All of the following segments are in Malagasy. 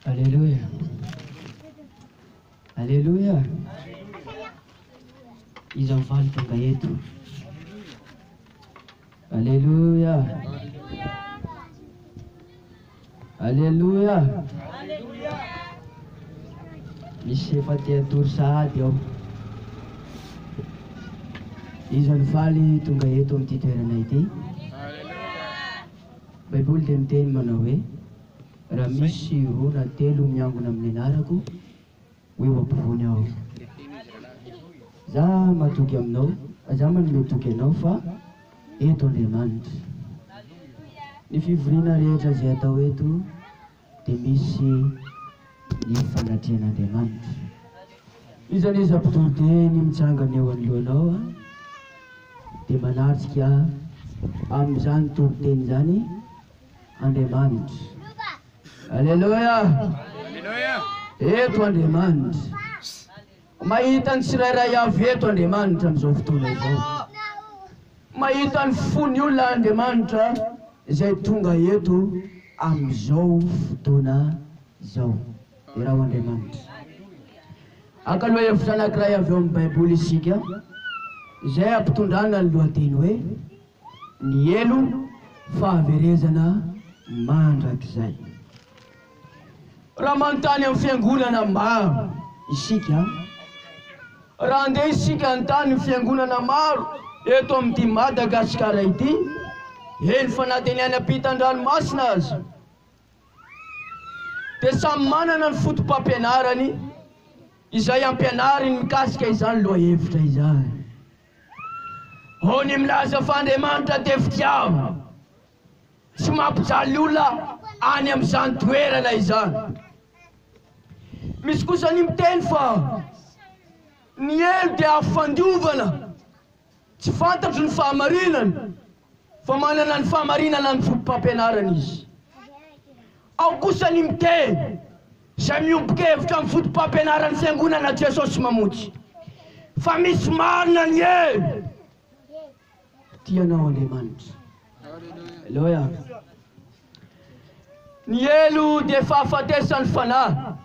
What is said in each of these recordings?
Aleloia! Aleloia! Iza mifaly tonga eto? Aleloia! Aleloia! Misy efa te hatory sahady ao. Iza mifaly tonga eto amin'ity toerana ity? Baiboly dia miteny manao hoe, Raha misy roa na telo miangona amin'ny anarako, ho eo ampovoany aho. Izaho mahatoky aminao, izaho manome toky anao fa eto Andriamanitra. Ny fivoriana rehetra izay atao eto, dia misy ny fanatrehan'Andriamanitra. Iza n'iza mpitory teny mitsangana eo anoloanao dia manatrika amin'izany toriteny izany Andriamanitra. Aleloia! Eto Andriamanitra. Mahita ny tsirairay avy eto Andriamanitra amin'izao fotoana izao. Mahita ny fon'ny olona Andriamanitra izay tonga eto amin'izao fotoana izao. Deraho Andriamanitra. Haka lohahevitra anankiray avy ao amin'ny Baiboly isika, izay ampitondrana ny lohateny hoe, Nielo fahaverezana mandrakizay. Raha manontany amin'ny fiangonana maro isika, raha handeha isika hanontany ny fiangonana maro eto amin'ity Madagasikara ity, eny fa na dia ny any ampitan-dranomasina aza, dia samy manana ny fotopampianarany izay ampianariny mikasika izany lohahevitra izany. Ao ny milaza fa Andriamanitra dia fitiavana, tsy mampijaly olona any amin'izany toerana izany. Misy kosa ny miteny fa ny helo dia afo fandiovana, tsy fantatro ny fahamarinany. fa manana ny fahamarinana ny fotopampianarana izy. Ao kosa ny miteny izay miombon-kevitra amin'ny fotopampianaran'ny Fiangonana Jesosy Mamonjy fa misy marina ny hoe, Tia anao Andriamanitra. Aleloia. Ny helo dia fahafatesan'ny fanahy.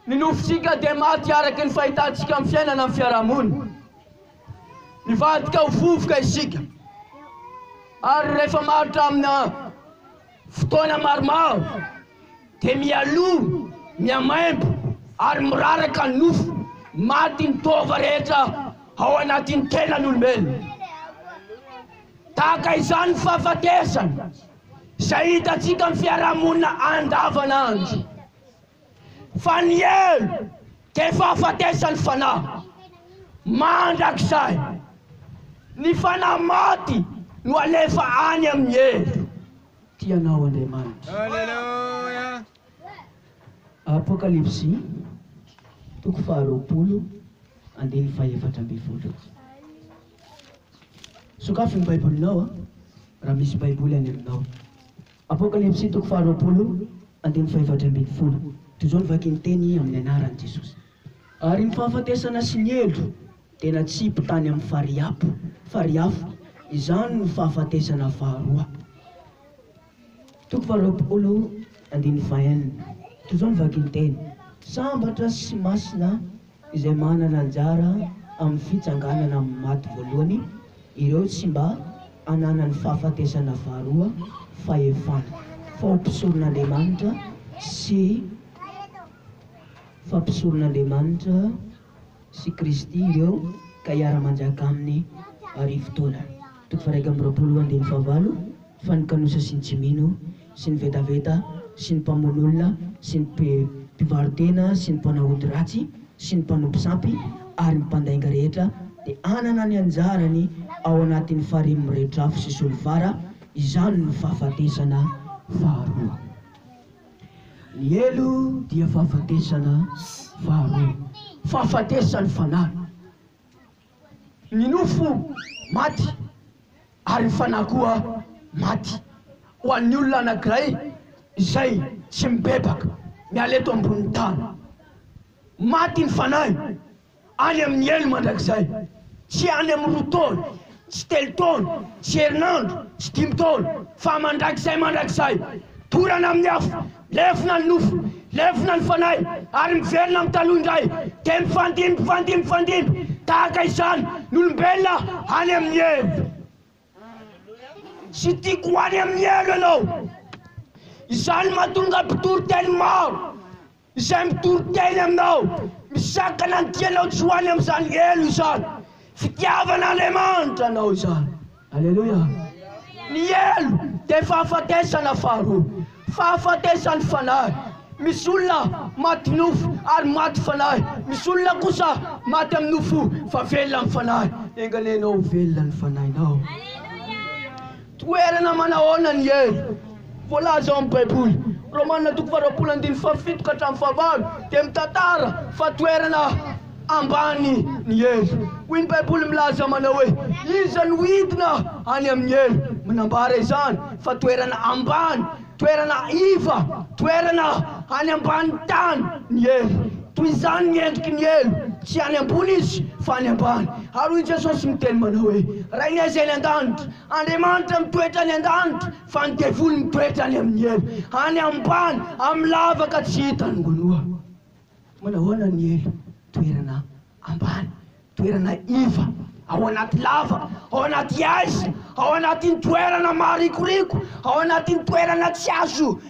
Ny nofintsika dia maty araka ny fahitantsika ny fiainana amin'ny fiarahamonina. Nivadika ho vovoka isika ary rehefa maharitra amina fotoana maromaro dia mialoha, mihamaimbo ary miraraka ny nofo. Maty ny taova rehetra ao anatin'ny tenan'olombelona. Tahaka izany ny fahafatesana. Izay hitantsika amin'ny fiarahamonina andavanandro fa ny helo dia fahafatesan'ny fanahy mandrakizay. Ny fanahy maty no alefa any amin'ny helo. Tia anao Andriamanitra. Aleloia! Apokalypsy, toko faharoapolo, andininy fahefatra ambin'ny folo. Sokafy ny Baibolinao an, raha misy Baiboly any aminao. Apokalypsy toko faharoapolo andininy fahaefatra ambin'ny folo. Toy izao no vakin'ny teny amin'ny anaran'i Jesosy. Ary ny fahafatesana sy ny elo dia natsipy tany amin'ny fariapo, fariafo, izany no fahafatesana faharoa. Toko faharoapolo andininy fahenina, toy izao ny vakinteny, Sambatra sy masina izay manana anjara amin'ny fitsanganana amin'ny maty voalohany, ireo tsy mba ananan'ny fahafatesana faharoa, fahefana, faopisoron'Andriamanitra sy fampisoron'Andriamanitra. sy Kristy ireo ka hiara-manjaka Aminy arivo taona. Toko faharaika amby roapolo andininy fahavalo Fa ny kanosa sy ny tsy mino, sy ny vetaveta, sy ny mpamono olona, sy ny mpivaro-tena, sy ny mpanao ody ratsy, sy ny mpanompo sampy, ary ny mpandainga rehetra, dia hanana ny anjarany ao anatin'ny farihy miredrafo sy solifara, izany no fahafatesana faharoa. Ny helo dia fahafatesana faharoa, fahafatesan'ny fanahy. Ny nofo maty ary ny fanahy koa maty. Ho an'ny olona anankiray izay tsy mibebaka miala eto ambonin'ny tany, maty ny fanahy. Any amin'ny helo mandrakizay. Tsy any amin'ny roa taona, tsy telo taona, tsy herinandro, tsy dimy taona, fa mandrakizay mandrakizay. Dorana amin'ny afo, lefona ny nofo, lefona ny fanahy, ary miverina amin'ny taloha indray, dia mifandimby, mifandimby, mifandimby tahaka izany ny olombelona any amin'ny helo. Tsy tiako ho any amin'ny helo ianao. Izany no mahatonga mpitoriteny maro Izay mitory teny aminao, misakana ny tianao tsy ho any amin'izany helo izany, fitiavan'Andriamanitra anao izany. Aleloia! Ny helo dia fahafatesana faharoa, fahafatesan'ny fanahy. Misy olona maty nofo ary maty fanahy, misy olona kosa maty amin'ny nofo fa velona amin'ny fanahy. Enga anie ianao ho velona ny fanahinao. Toerana manahoana ny hery? Voalaza ao amin'ny Baiboly, Romana toko faharoapolo andininy fahafito ka hatramin'ny fahavalo, dia mitantara fa toerana ambany ny hery. Hoy ny Baiboly milaza manao hoe, Iza no hidina any amin'ny hery? Manambara izany fa toerana ambany. Toerana iva, toerana any ambanin'ny tany ny hery. Toy izany ny endriky ny helo, tsy any ambony izy, fa any ambany. Ary hoy Jesosy miteny manao hoe, Rainay izay any an-danitra. Andriamanitra mitoetra any an-danitra, fa ny devoly mitoetra any amin'ny helo, any ambany, amin'ny lavaka tsy hitan'ny manoa. Manahoana ny elo? Toerana ambany, toerana iva, ao anaty lava, ao anaty aiza, ao anatin'ny toerana maharikoriko, ao anatin'ny toerana tsy azo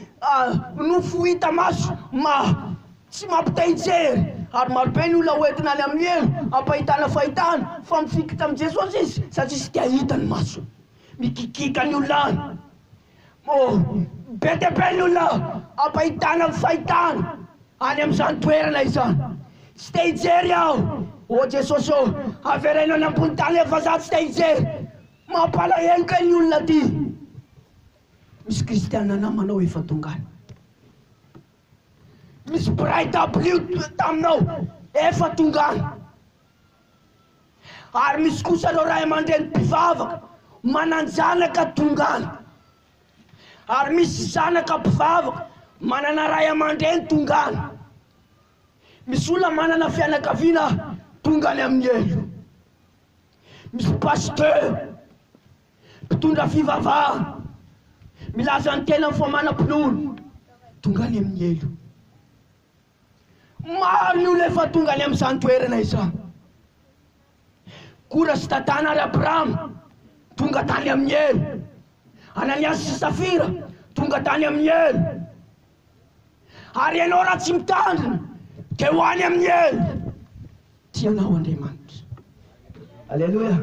nofo hita maso, ma, tsy mampitahijery. Ary marobe ny olona hoentina any amin'ny elo, hampahitana fahitana, fa mifikitra amin'i Jesosy izy, satria tsy te hahita ny masony. Mikikika ny olona any. Moa be dia be ny olona ampahitana ny fahitana any amin'izany toerana izany. Tsy te hijery aho. Ô Jesosy ô, avereno any ambony tany e fa za tsy te hijery. Mampalahelo kay ny olona aty. Misy kristiana namanao efa tonga any. Misy mpiray dabilio taminao efa tonga any. Ary misy kosa ireo ray aman-dreny mpivavaka manan-janaka tonga any. Ary misy zanaka mpivavaka manana ray aman-dreny tonga any. Misy olona manana fianakaviana tonga any amin'ny helo. Misy pasteur, mpitondra fivavahana, milaza ny tenany fa manam-pinoana, tonga any amin'ny helo. Maro ny olona efa tonga any amin'izany toerana izany. Kora sy Datana ary Abrama tonga tany amin'ny elo. Ananiasy sy Safira tonga tany amin'ny elo. Ary ianao raha tsy mitandrina dia ho any amin'ny elo. Tia anao Andriamanitra. Aleloia!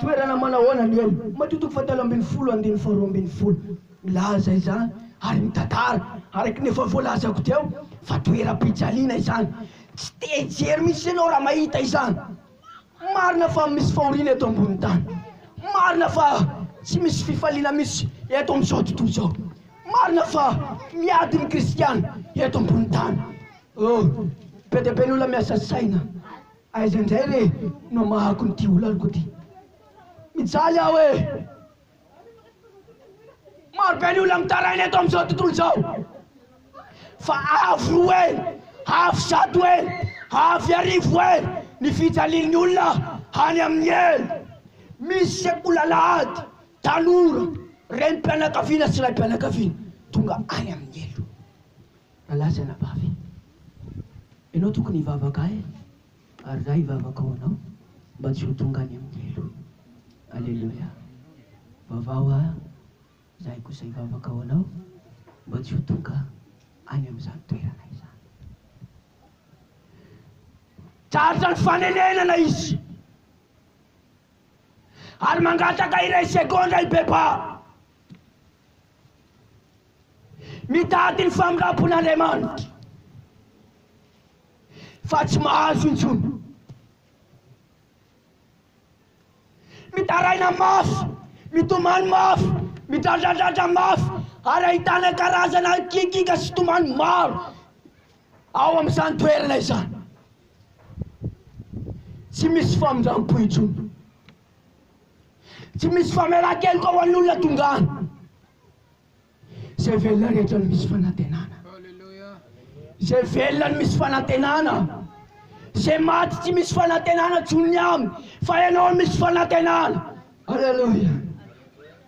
Toerana manahoana no eny? Matio toko fahatelo ambin'ny folo andininy faharoa ambin'ny folo milaza izany ary mitantara araka ny efa voalazako teo fa toeram-pijaliana izany. Tsy te hijery mihitsy ianao raha mahita izany. Marina fa misy fahoriana eto ambonin'ny tany. Marina fa tsy misy fifaliana mihitsy eto amin'izao tontolo izao. Marina fa miady ny kristiana eto ambonin'ny tany. Oh! Be dia be ny olona miasa saina. Aiza indray re no amahako an'ity olaniko ity? Mijaly aho e! Maro be ny olona mitaraina eto amin'izao tontolo izao. Fa avy roa e! Avy zato e! Avy arivo e! Ny fijalian'ny olona any amin'ny e! Misy sekolalahady, tanora, renim-pianakaviana sy raim-pianakaviana tonga any amin'ny elo. Alasy anabavy. Ianao tokony hivavaka ahy ary za hivavaka ho anao mba tsy ho tonga any amin'ny helo. Aleloia. Vavaho aho, izahay kosa hivavaka ho anao mba tsy ho tonga any amin'izany toerana izany. Tratra ny fanenenana izy ary mangataka iray segondra i Beba. Mitady ny famindrampon'Andriamanitra fa tsy mahazo intsony. Mitaraina mafy, mitomany mafy, midradradradra mafy ary ahitana karazana kikiaka sy tomany maro ao amin'izany toerana izany. Tsy misy famindrampo intsony. Tsy misy famelan-keloka ho an'ny olona tonga any. Izay velona rehetra no misy fanantenana. Izay velona no misy fanantenana. Izay maty tsy misy fanantenana tsony ny aminy, fa ianao no misy fanantenana. Aleloia.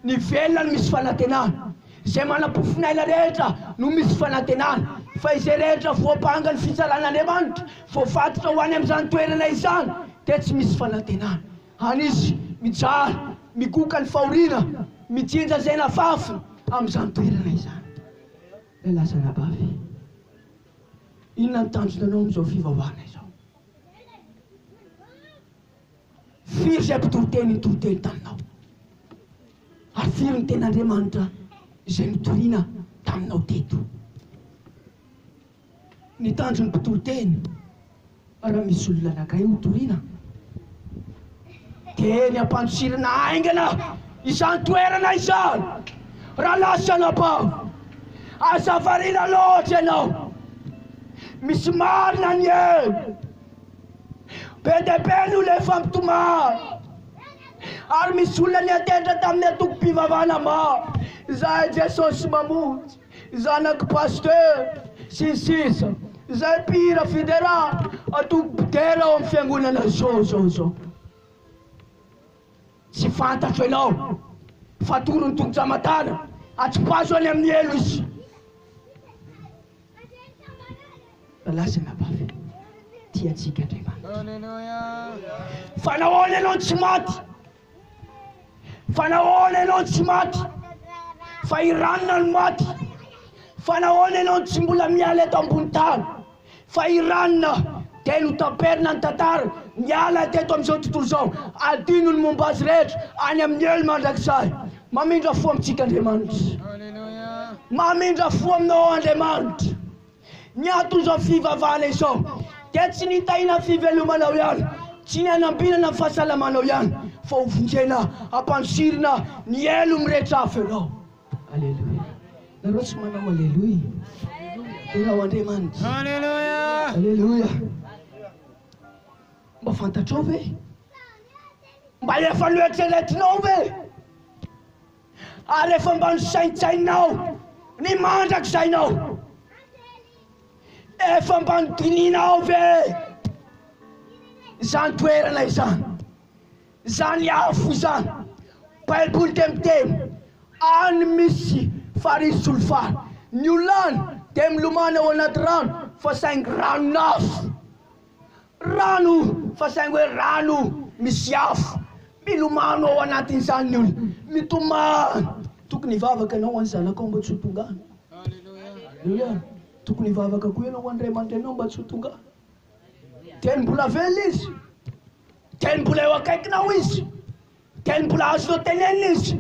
Ny velona no misy fanantenana. Izay manam-pofon'aina rehetra no misy fanantenana, fa izay rehetra voampanga ny fitsaran'Andriamanitra, voafatotra ho any amin'izany toerana izany, dia tsy misy fanantenana. Any izy mijaly, mikoka ny fahoriana, mijinja izay nafafiny tamin'izany toerana izany. Ilay laza Nabavy, Inona ny tanjona anao amin'izao fivavahana izao? Firy izay mpitoriteny nitoriteny taminao? Ary firy ny tena Andriamanitra izay notorina taminao teto? Ny tanjon'ny mpitory teny, raha misy olona nagay ho toriana, dia ny hampantsirina haingana izany toerana izany. Raha lasa anabavy, aza variana loatra ianao. Misy marina ny eny. Be dia be ny olona efa mitomany, ary misy olona niantehitra tamin'ny antokom-pivavahana maro izay Jesosy mamonjy. Zanaky Pasteur, sy ny sisa Zay mpihira fidera atoko bdera ao am fiangonana zao zao zao Tsy fantatro enao fa atoron'ny Tompo Jamatana atsipazo any amin'ny helo izy Fa lasa anabavy Tia antsika Andriamanitra Fa nahoana enao tsy maty Fa nahoana ianao no tsy maty? Fa i Rana no maty. Fa nahoana ianao no tsy mbola miala eto ambony tany? Fa i Rana dia notaperina ny tantara, miala teto amin'izao tontolo izao. Adino ny momba azy rehetra any amin'ny helo mandrakizay. Mamindra fo amintsika Andriamanitra. Mamindra fo aminao Andriamanitra. Ny ato izao fivavahana izao dia tsy ny hitahina fivelomanao ihany, tsy ny hanambinana ny fahasalamanao ihany, fa ho vonjena hampantsirina ny helo mirehitra afo ianao. Aleloia. Nareo tsy manao aleloia? Derao Andriamanitra. Aleloia. Aleloia. Mba fantatrao ve? Mba efa noeritreretinao ve? Ary efa mba nosaintsaininao ny mandrakizay nao? Efa mba nodinihinao ve izany toerana izany? Izany afo izany? Baiboly dia miteny, Any misy farihy solifara, ny olona any dia milomano ao anaty rano, fa saingy ranon'afo. Rano fa saingy hoe rano misy afo milomano ao anatin'izany ny olona. Mitomany. Tokony hivavaka ianao ho an'ny zanakao mba tsy ho tonga any. Aleloia. Tokony hivavaka koa ianao ho an'ny ray aman-dreninao mba tsy ho tonga any. Teny mbola velona izy. Teny mbola eo akaikinao izy. Teny mbola azonao tenenina izy.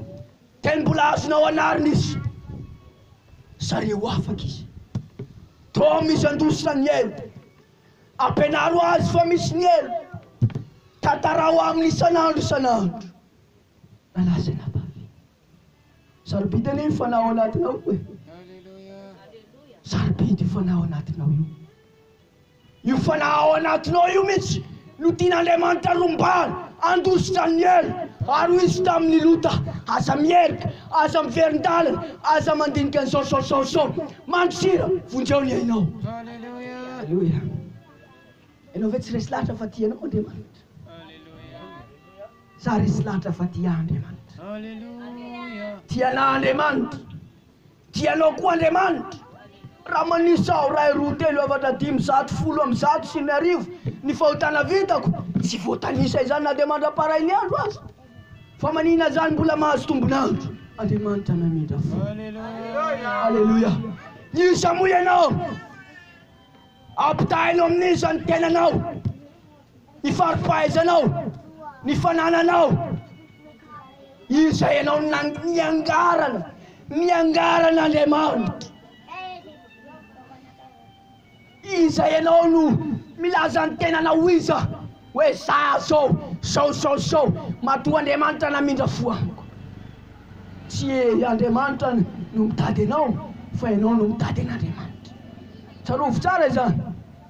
Teny mbola azonao anarina izy. Sary ho afaka izy. Tom izy handositra ny elo. Ampianaro azy fa misy ny helo. Tantaraho aminy isan'andro isan'andro. Lalahy sy anabavy, sarobidy anie io fanahy ao anatinao io e. Sarobidy io fanahy ao anatinao io. Io fanahy ao anatinao io mihitsy No tian'Andriamanitra rombahana, handositr' Aniel, ary ho izy tamin' ny lota. Aza mierika, aza miverin-dalana, aza mandinika ny saosaosaosao. Mandosira, vonjeo ny ainao. Aleloia! Ianao ve tsy resy lahatra fa tia anao Andriamanitra? Sa resy lahatra fa tia ahy Andriamanitra? Tia anah Andriamanitra. Dia Ianao koa Andriamanitra. Raha manisa aho iray, roa, telo, efatra, dimy, zato, folo amby zato sy ny arivo ny fahotana vitako, tsy voatanisa izany na dia mandra-parain'ny andro aza. Fa manina izany mbola mahazo tombon'andro. Andriamanitra namindra fo. Aleloia. Miisa moa ianao? Ampitahaino amin'iza ny tenanao? Ny fari-pahaizanao, ny fanananao, izay anao niangarana, niangaran' Andriamanitra. Iza ianao no milaza ny tenanao ho iza, hoe za zao, zao zao zao, matoa Andriamanitra namindra fo amiko. Tsy Andriamanitra no mitady anao fa ianao no mitady an'Andriamanitra. Tsarovy tsara izany.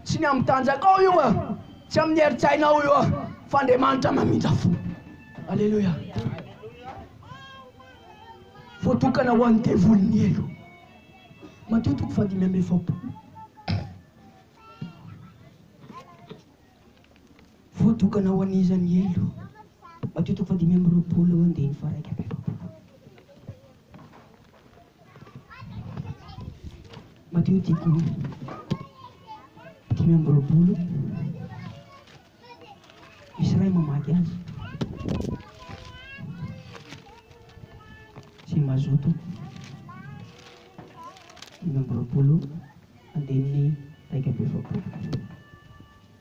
Tsy ny amin'ny tanjakao io an, tsy amin'ny herin-tsainao io an, fa Andriamanitra mamindra fo. Aleloia. Voatokana ho an'ny devoly ny helo. Matio toko fahadimy amby efapolo. Voatokana ho an'izany helo hatrio toko fahadimy amby roapolo andininy faharaika amby efapolo. Matio toko dimy amby roapolo, misy iray mamaky azy sy mazoto dimy amby roapolo andininy iraika amby efapolo.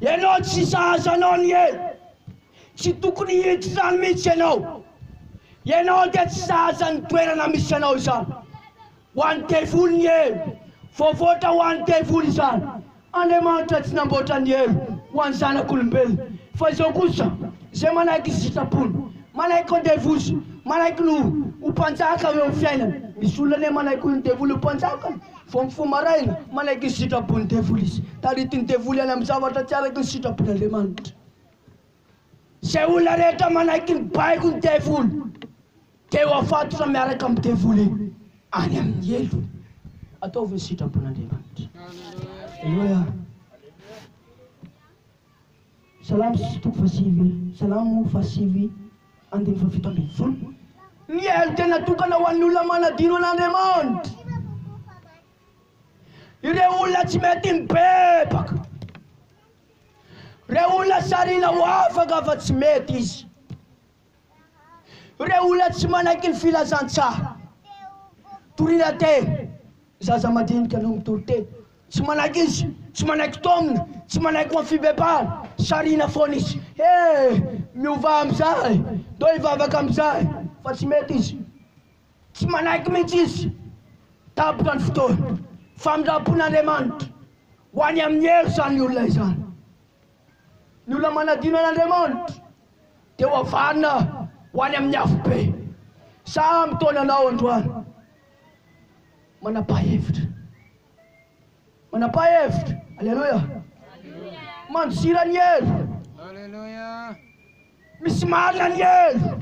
Ianao tsy sahaza anao ny ela. Tsy tokony hiditra izany mihitsy ianao. Ianao dia tsy sahaza ny toerana misy anao izany. Ho an'ny devoly ny ela. Voavoatra ho an'ny devoly izany. Andriamanitra tsy namboatra ny ela ho an'ny zanak'olombelona. Fa izao kosa, izay manaiky ny sitrapony, manaiky ho devoly, manaiky ny ho mpanjaka eo amin'ny fiainany. Misy olona anie manaiky ho devoly ho mpanjaka. Vao mifoha maraina, manaiky ny sitrapon'ny devoly izy. Taritin'ny devoly any amin'ny zavatra tsy araka ny sitrapon'Andriamanitra. Izay olona rehetra manaiky ny baikon'ny devoly dia ho afatotra miaraka amin'ny devoly any amin'ny helo. Ataovy ny sitrapon'Andriamanitra. Aleloia. Salamo sy toko fahasivy Salamo fahasivy andininy fahafito ambin'ny folo. Ny helo dia natokana ho an'ny olona manadino an'Andriamanitra, ireo olona tsy mety mibebaka, ireo olona sarina ho afaka fa tsy mety izy. Ireo olona tsy manaiky ny filazantsaha. Toriana te, ny zaza madinika no mitory te. Tsy manaiky izy, tsy manaiky taomina, tsy manaiky ho amin'ny fibebahana. Sarihina foana izy. He! Miovà amin'izay! Ndao hivavaka amin'izay! Fa tsy mety izy. Tsy manaiky mihitsy izy. Tapitra ny fotoana. Famindram-pon'Andriamanitra. Ho any amin'ny hery izany olona izany. Ny olona manadino an'Andriamanitra dia hohavanina ho any amin'ny afobe. Sa mitaona anao androany? Manapa-hevitra. Manapa-hevitra. Aleloia. Mandosira ny helo. Aleloia. Misy marina ny helo.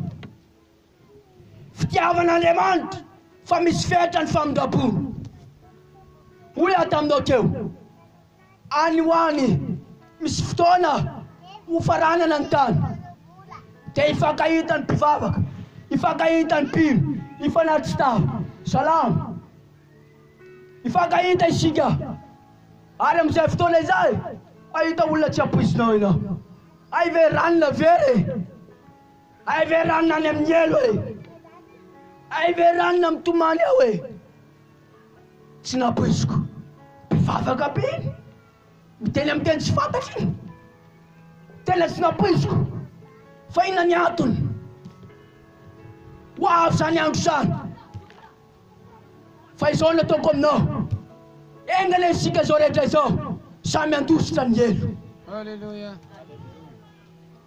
Fitiavana Andriamanitra fa misy fenitra ny famindram-pony. Hoy aho taminao teo, any ho any misy fotoana hofaranana ny tany, dia hifankahitan'ny mpivavaka, hifankahitan'ny mpino, hifanary tsy taha. Salamo. Hifankahita isika, ary amin'izay fotoana izay, hahita olona tsy hampoizinao ianao. Hay ve ranona very e! Hay ve ranona any amin'ny helo e! Hay ve ranona mitomany ao e! Tsy nampoiziko. Mpivavaka be iny. Miteny amin'ny teny tsy fantatra iny. Tena tsy nampoiziko. Fa inona ny antony? Ho avy izany andro izany. Fa izao no ataoko aminao. Enga anie isika izao rehetra izao samy handositra ny helo. Alléluia.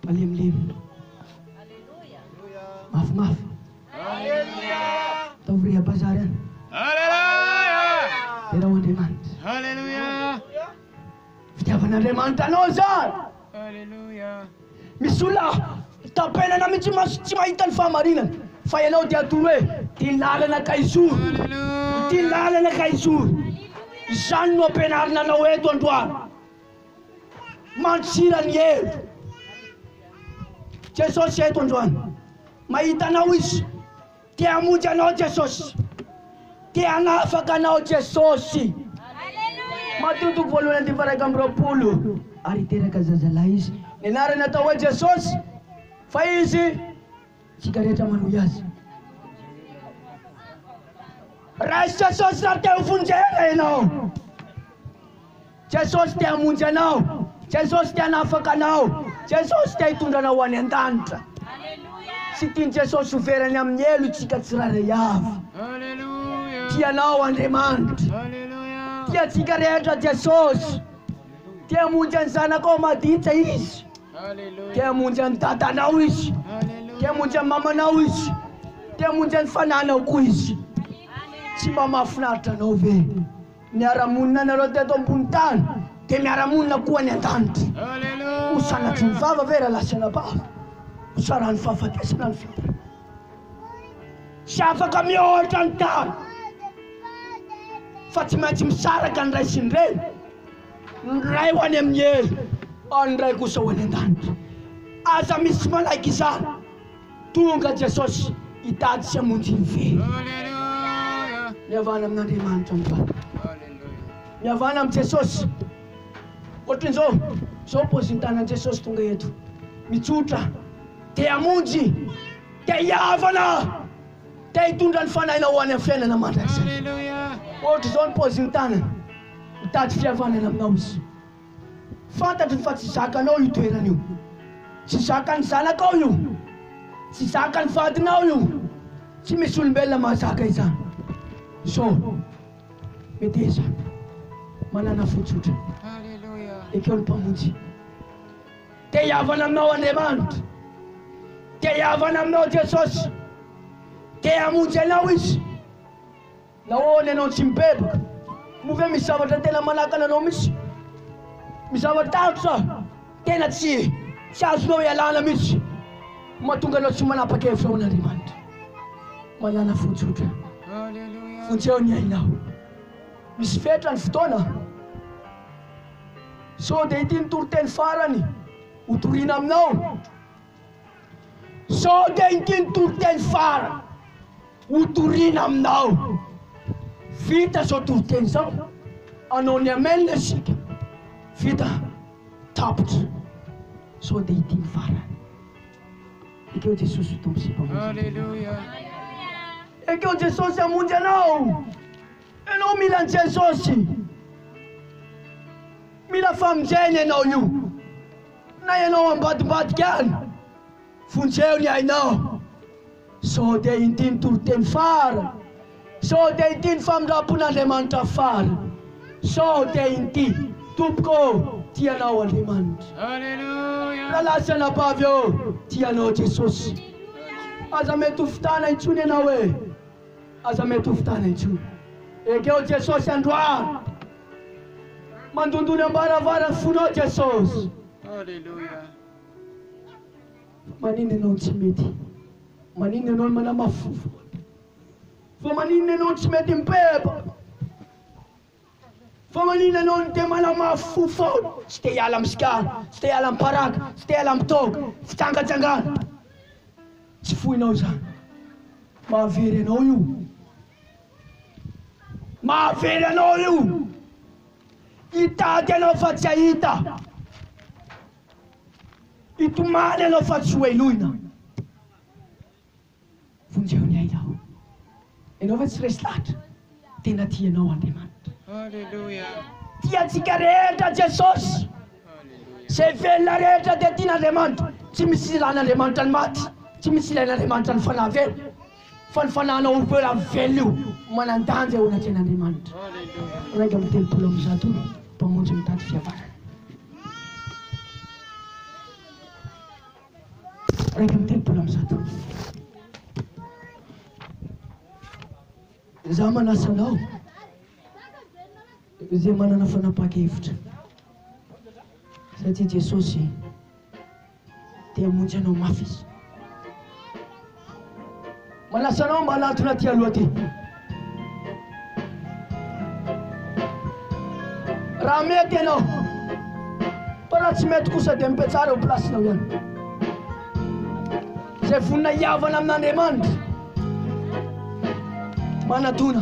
Malemilemy. Mafimafy. Ataovy reha bazary any. Tena ho Andriamanitra. Fitiavan'Andriamanitra anao zany. Misy olona tapenana mihitsy maso tsy mahita ny fahamarinana fa ianao dia atoro hoe ty lalana ka izoro ty lalana ka izoro izany no ampianarina anao eto androany Mandosira ny hery. Jesosy eto androany. Mahita anao Izy. Te hamonjy anao Jesosy. Te hanafaka anao Jesosy. Mateo toko voalohany andininy faharaika amby roapolo Ary teraka zazalahy izy, ny anarany atao hoe Jesosy, fa izy Isika rehetra manohy azy. Rais Jesosy raha te ho vonjena ianao. Jesosy te hamonjy anao. Jesosy te hanafaka anao. Jesosy te hitondra anao ho any an-danitra. Tsy tian'i Jesosy ho very any amin'ny helo isika tsirairay avy. Tia anao Andriamanitra. Tia antsika rehetra Jesosy. Te hamonjy an'i zanakao maditra izy. Te hamonjy an'i dadanao izy. Te hamonjy an'i mamanao izy. Te hamonjy an'i fananao koa izy. Tsy mba mahafinaritra anao ve? Miara-monina nareo teto ambony tany dia miara-monina koa any an-danitra. Ho sanatry ny vava ve raha lasa anabavy? Ho saran'ny fahafatesana ny fiainana. Tsy afaka mihoatra ny tany fa tsy maintsy misaraka ny ray sy ny reny, ny ray ho any amin'ny hery ary ny ray kosa ho any an-danitra. Aza misy tsy manaiky izany. Tonga Jesosy hitady sy hamonjy ny very. Mihavana amin'Andriamanitra androany. Mihavana amin'i Jesosy. Ohatran'izao, izao ny paozin'ny tanan'i Jesosy tonga eto. Mitsotra. Te hamonjy, te hihavana, te hitondra ny fanahinao ho any amin'ny fiainana mandrakizay. Ohatr'izao ny paozin'ny tanany, mitady fihavanana aminao izy. Fantatriny fa tsy zakanao io toerana io, tsy zakan'ny zanakao io, tsy zakan'ny vadinao io, tsy misy olombelona mahazaka izany. Izao, meteza, mananafo tsotra, ekeo ny Mpamonjy. Te hihavana aminao Andriamanitra. Te hihavana aminao Jesosy. Te hamonjy anao Izy. Nahoana ianao tsy mibevoka? Moa ve misy zavatra tena manakana anao mihitsy? Misy zava-tahotra tena tsy tsy azonao ialana mihitsy mahatonga anao tsy manapa-kevitra ho an'Andriamanitra? Manana fo tsotra. Vonjeo ny ainao. Misy fetra ny fotoana. Sao dia ity ny toriteny farany hotorina aminao? Sao dia ity ny toriteny farany hotorina aminao? Vita izao toriteny izao, hanao ny Amen isika. Vita. Tapitra. Sao dia ity ny farany. Ekeo Jesosy ho Tompo sy Mpamonjy anao. Ekeo Jesosy hamonjy anao. Ianao mila an'i Jesosy. Mila famonjena ianao io. Na ianao ambadimbadika any, vonjeo ny ainao. Sao dia inty ny toriteny farany? Sao dia inty ny famindram-pon'Andriamanitra farany? Sao dia inty, Tompoko ô, tia Anao Andriamanitra. Rahalahy sy anabavy ô, tia Anao Jesosy. Aza mety ho fitana intsony ianao e. Aza mety ho fitana intsony. Ekeo Jesosy androany. Mandondony ambaravara ny fonao Jesosy. Alléluia. Fa maninona ianao no tsy mety? Maninona ianao no manamafy fofona? Fa maninona ianao no tsy mety mipepa? Fa manina anao ny te manamafy fo foana, tsy te hiala am sigara, tsy te hiala am paraka, tsy te hiala am toaka, fitsangatsangana. Tsy foinao izany. Mahavery anao io. Mahavery anao io. Hitady anao fa tsy hahita. Hitomany anao fa tsy ho heloina. Vonjeo ny aina aho. Ianao ve tsy resy lahatra? Tena tia anao Andriamanitra. Haleloia. Tia antsika rehetra Jesosy. Izay velona rehetra dia tian'Andriamanitra. Tsy misy ilan'Andriamanitra ny maty. Tsy misy ilain'Andriamanitra ny fanahy velona. Fa ny fanahinao ho velona amin'ny velona io, manan-danja eo anatrehan'Andriamanitra. Haleloia. Iraika amby telopolo amby zato Mpamonjy mitady fihavanana. Iraika amby telopolo amby zato. Izaho manasa anao, izay manana fanapahan-kevitra, satria Jesosy te hamonjy anao mafy Izy. Manasa anao mba hanatona aty aloha aty. Raha mety ianao. Fa raha tsy mety kosa dia mipetraha eo plasinao ihany. Izay vonona hihavana amin'Andriamanitra. Manatona.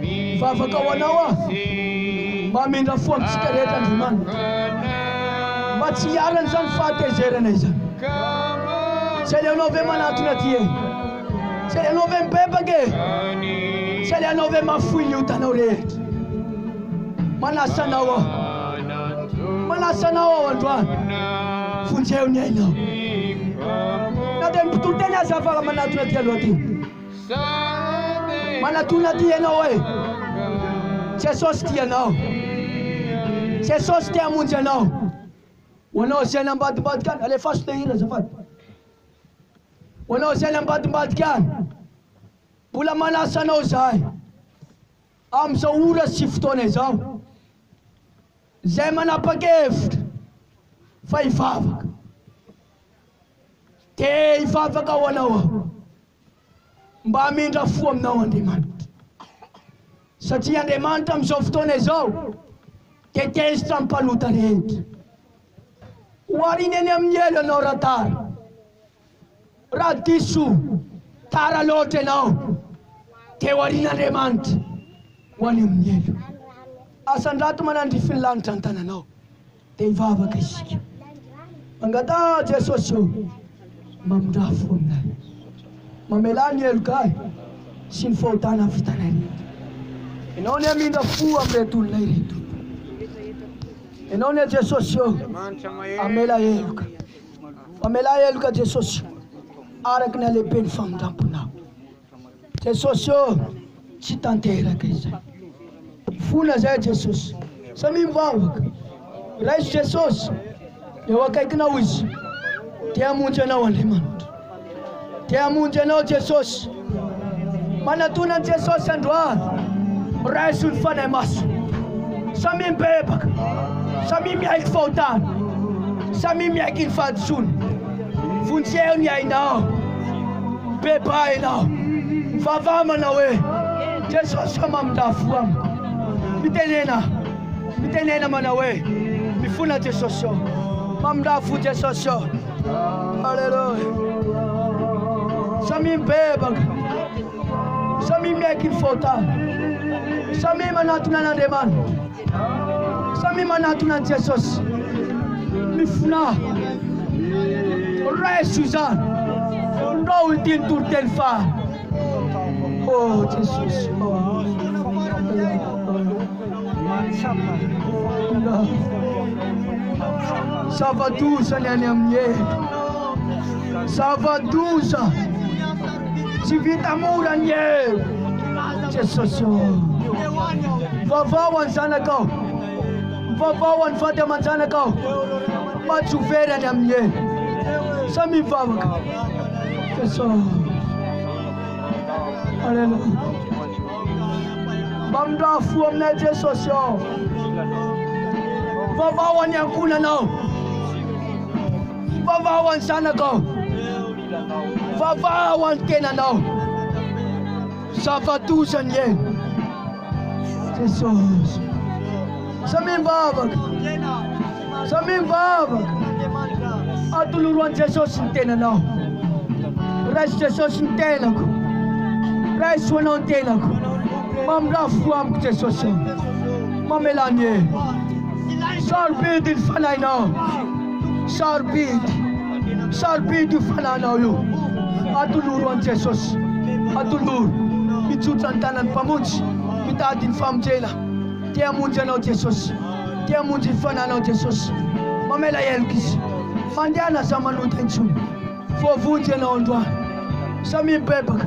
Mivavaka ho anao aho mba hamindra fo amintsika rehetra Andriamanitra mba tsy hialana izany fahatezerana izany. Tsy aleonao ve manatona aty e? Tsy aleonao ve mibebaka e? Tsy aleonao ve mafoy ny otanao rehetra? Manasa anao aho. Manasa anao aho androany. Vonjeo ny ainao. Na dia ny mpitoriteny aza afaka manatona aty aloha aty. Manatona ty ianao e! Jesosy tia anao. Jesosy te hamonjy anao. Ho anao izay nambadimbadika any, alefaso le hira azafady. Ho anao izay nambadimbadika any, mbola manasa anao izahay. Amin'izao ora sy fotoana izao, izay manapa-kevitra fa hivavaka, dia hivavaka ho anao aho, mba hamindra fo aminao Andriamanitra. Satria Andriamanitra amin'izao fotoana izao dia tezitra ny mpanota rehetra. Oharina eny amin'ny elo ianao Ratara, Raha diso tara loatra ianao dia ho aorian'Andriamanitra ho any amin'ny helo. Asandrato manandrify ny lanitra ny tananao. Dia hivavaka isika. Mangataha aho Jesosy ô, mamindrà fo aminay. Mamelà ny heloka ahy sy ny fahotana vitanay rehetra. Ianao ny hamindra fo amin'ireto olona ireto. Ianao ny ahy Jesosy ô, hamela heloka. Mamelà heloka Jesosy araka ny halehiben'ny famindram-ponao. Jesosy ô, tsy tanteraka izay. Mifona izay Jesosy. Samia mivavaka. Raiso Jesosy. Eo akaikinao Izy. Te-hamonjy anao Andriamanitra. Te hamonjy anao Jesosy. Manatona an'i Jesosy androany. Raiso ny Fanahy Masina. Samia mibebaka. Samia miaiky ny fahotana. Samia miaiky ny fahadisoana. Vonjeo ny ainao. Bebaha ianao. Mivavaha manao hoe Jesosy o mamindafo amiko. Mitenena. Mitenena manao hoe mifona Jesosy o. Mamindafo Jesosy o. Alléluia. Samia mibebaka. Samia miaiky ny fahotany. Samia manatona an'Andriamanitra. Samia manatona an'i Jesosy. Mifonà. Raiso izany. Ndao ity ny toriteny faha. Oh Jesosy oh Mahatsapa Zava-doza ny any amin'ny hery Zava-doza Tsy vita mora ny hery Jesosy oh Vavao any zanakao Mivavaha ho an'ny vady aman-janaka aho mba tsy ho very any amin'ny helo. Samia mivavaka. Jesosy. Aleloia. Mba mindraha fo aminay Jesosy ao. Mivavaha ho an'ny ankohonanao. Mivavaha ho an'ny zanakao. Mivavaha ho an'ny tenanao. Zava-doza ny helo. Jesosy. Samia mivavaka. Samia mivavaka. Atoloro an'i Jesosy ny tenanao. Raiso Jesosy ny tenako. Raiso anao ny tenako. Mamindrà fo amiko Jesosy. Mamelà ny e. Sarobidy ny fanahinao. Sarobidy. Sarobidy io fananao io. Atoloro an'i Jesosy. Atoloro. Mitsotso ny tanan'ny Mpamonjy. Mitady ny famonjena. Te hamonjy anao Jesosy. Te hamonjy ny fananao Jesosy. Mamela heloka Izy. Mandehana aza manota intsony. Voavonjy ianao androany. Samia mibebaka.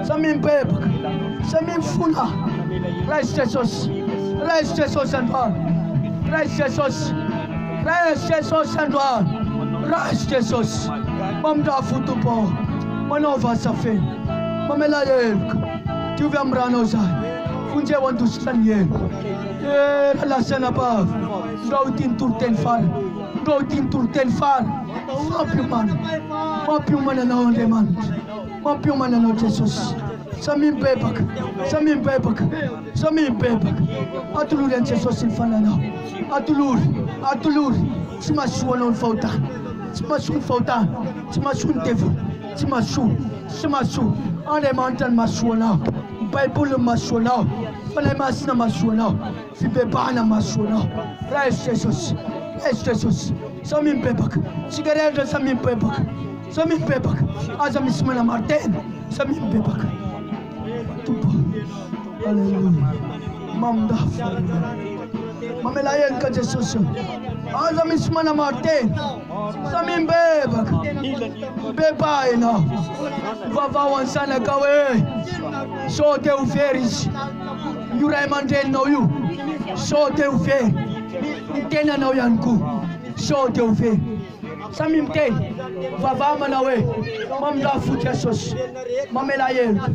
Samia mibebaka. Samia mifona. Raiso Jesosy. Raiso Jesosy androany. Raiso Jesosy. Praise Jesus androany praise Jesus mamindra fo Tompo ô manaova asa feno mamela heloka diovy am ranao zany vonjeo andositra ny elo era lasa anabavy ndao ity ny toriteny farany ndao ity ny toriteny farany fampiomana fampiomana anao Andriamanitra mampiomana anao Jesosy samia mibebaka samia mibebaka Zao mibebaka. Atolory an'i Jesosy ny fananao. Atolory, atolory. Tsy mahasoa anao ny fahotana. Tsy mahasoa ny fahotana. Tsy mahasoa ny devoly. Tsy mahasoa. Tsy mahasoa. Andriamanitra no mahasoa anao. Ny Baiboly no mahasoa anao. Fanahy Masina mahasoa anao. Fibebahana mahasoa anao. Raiso Jesosy. Raiso Jesosy. Zao mibebaka. Tsika rehetra zao mibebaka. Zao mibebaka. Aza misy manamaro tena. Zao mibebaka. Amen Tompo. Alléluia. Mamindafy Alléluia. Mamelà heloka Jesosy o. Aza misy manamaro tena. Samia mibebaka. Beba ianao. Vavaho an'ny zanakao e. Sao te ho very izy. Io ray aman-dreninao io. Sao te ho very. Ny tenanao ihany koa. Sao te ho very. Samy miteny vava manao hoe mamindrafo fo Jesosy mamela heloka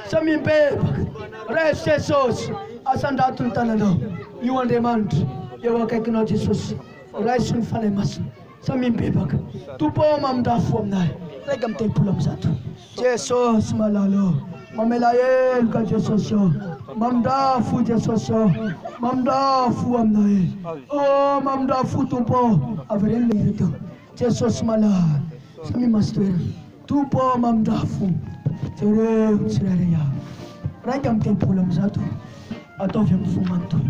Samy mibebaka raiso Jesosy asandrato ny tananao Io Andriamanitra eo akaikinao Jesosy raiso ny Fanahy Masina Samy mibebaka Tompo ô mamindrafo fo aminahy Raika amby telopolo amby zato Jesosy malala ô, mamela heloka Jesosy ô, mamindrà fo Jesosy ô, mamindrà fo aminao e, ô mamindrà fo Tompo ô, avereno ilay hira teo, Jesosy malala, samia masotoerana, Tompo ô mamindrà fo, jereo ny tsirairay avy, raika amby telopolo amby zato, ataovy amin'ny fo manontolo.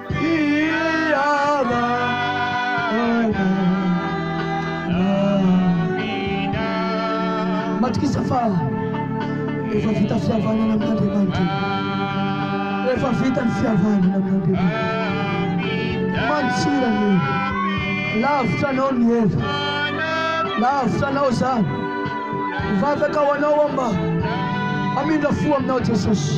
Matokisa fa efa vita fihavanana amin'Andriamanitra. Efa vita ny fihavanana amin'Andriamanitra. Mantsira ny heva. Lavitra anao ny heva. Lavitra anao izany. Mivavaka ho anao aho mba hamindra fo aminao Jesosy.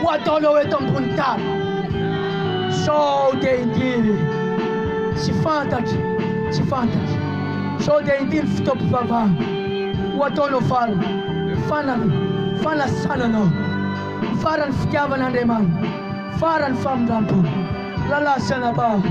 Ho ataonao eto ambony tany Sao dia indimy Tsy fantatro, tsy fantatro Sao dia indimy fotoam-pivavahana Ho ataonao farany, farany fanasana anao Farany fitiavana Andriamanitra Farany famindram-po Lalasanabavy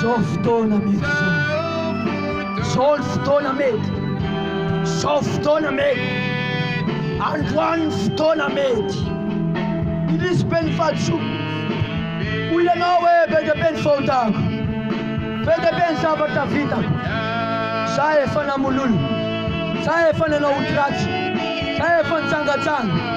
Zao fotoana mety zao Zao ny fotoana mety Zao fotoana mety Androany ny fotoana mety Milisy be ny fahadisoako Hoy ianao hoe be dia be ny fahotako Be dia be ny zavatra vitako Za efa namololo Za efa nanao ody ratsy Za efa nitsangatsanga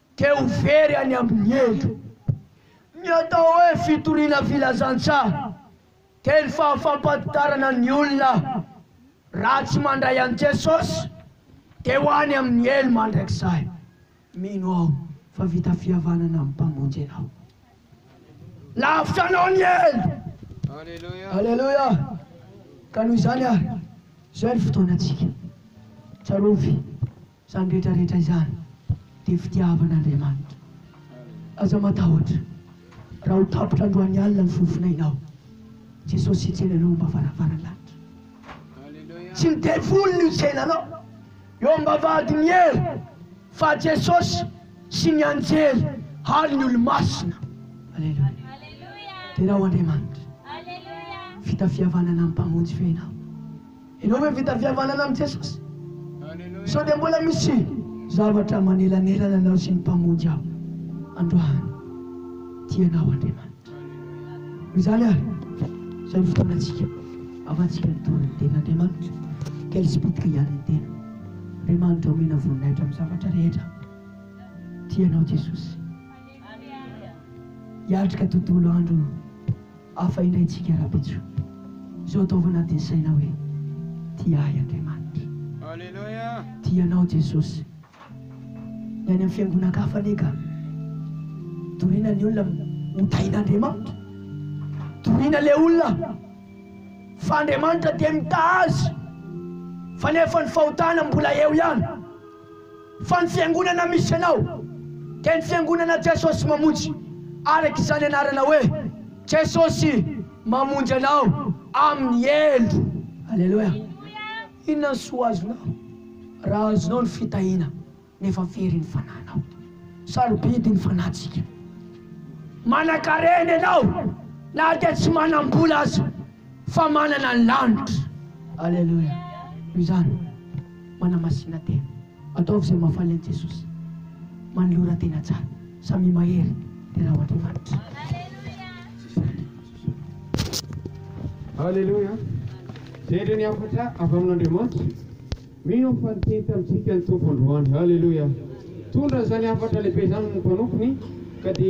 Te ho very any amin'ny elo. Ny atao hoe fitoriana filazantsaha dia ny fahafampadidarana ny olona raha tsy mandray an'i Jesosy dia ho any amin'ny elo mandrakizay. Mino aho fa vita fihavanana amin'ny Mpamonjy ianao. Lavitra anao ny elo. Aleloia! Ka noho izany ary, izao ny fotoanantsika. Tsarovy. Izany rehetra rehetra izany dia fitiavan'Andriamanitra. Aza matahotra raha ho tapitra androany alina ny fofonainao. Jesosy hitsena anao am-ba varavaran'ny lanitra. Tsy ny devoly no hitsena anao eo am-bavahadin'ny hery fa Jesosy sy ny anjely ary ny olo-masina. Aleloia. Derao Andriamanitra. Vita fihavanana ny Mpamonjy fenao. Ianao ve vita fihavanana amin'i Jesosy? Sao dia mbola misy zavatra manelanelana anao sy ny Mpamonjy ao? Androany, tia anao Andriamanitra. Noho izany àry, izao ny fotoanantsika ahafahantsika nitory ny Tenin'Andriamanitra. Quel spicc ihany ny tena. Andriamanitra omena voninahitra amin'ny zavatra rehetra. Tia anao Jesosy. Hiatrika tontolo andro. Hafa indray isika rahampitso izao ataovy anatin'ny saina hoe tia ahy Andriamanitra. Aleloia! Tia anao Jesosy. Ny any amin'ny fiangonan-kafa anie ka toriana ny olona ho tahin'Andriamanitra. Toriana ilay olona fa Andriamanitra dia mitaha azy fa nefa ny fahotana mbola eo ihany. Fa ny fiangonana misy anao dia ny fiangonana Jesosy Mamonjy, araka izany anarana hoe Jesosy Mamonjy anao amin'ny helo. Aleloia! Inona ny soa azonao raha azonao ny fitahiana nefa very ny fanahinao? Sarobidy ny fanahintsika. Manankarena ianao na dia tsy manam-bola aza. Fa manana ny lanitra. Aleloia. Noho izany, manamasina tena. Ataovy izay mahafaly an'i Jesosy. Manolora tena tsara. Samia mahery dia rà ho Andriamanitra. Aleloia. Zendry ny hafatra avy amin'Andriamanitra. Mino aho fa niteny tamintsika ny Tompo androany. Aleloia. Tondra izany hafatra lehibe izany ny mpanompony ka dia.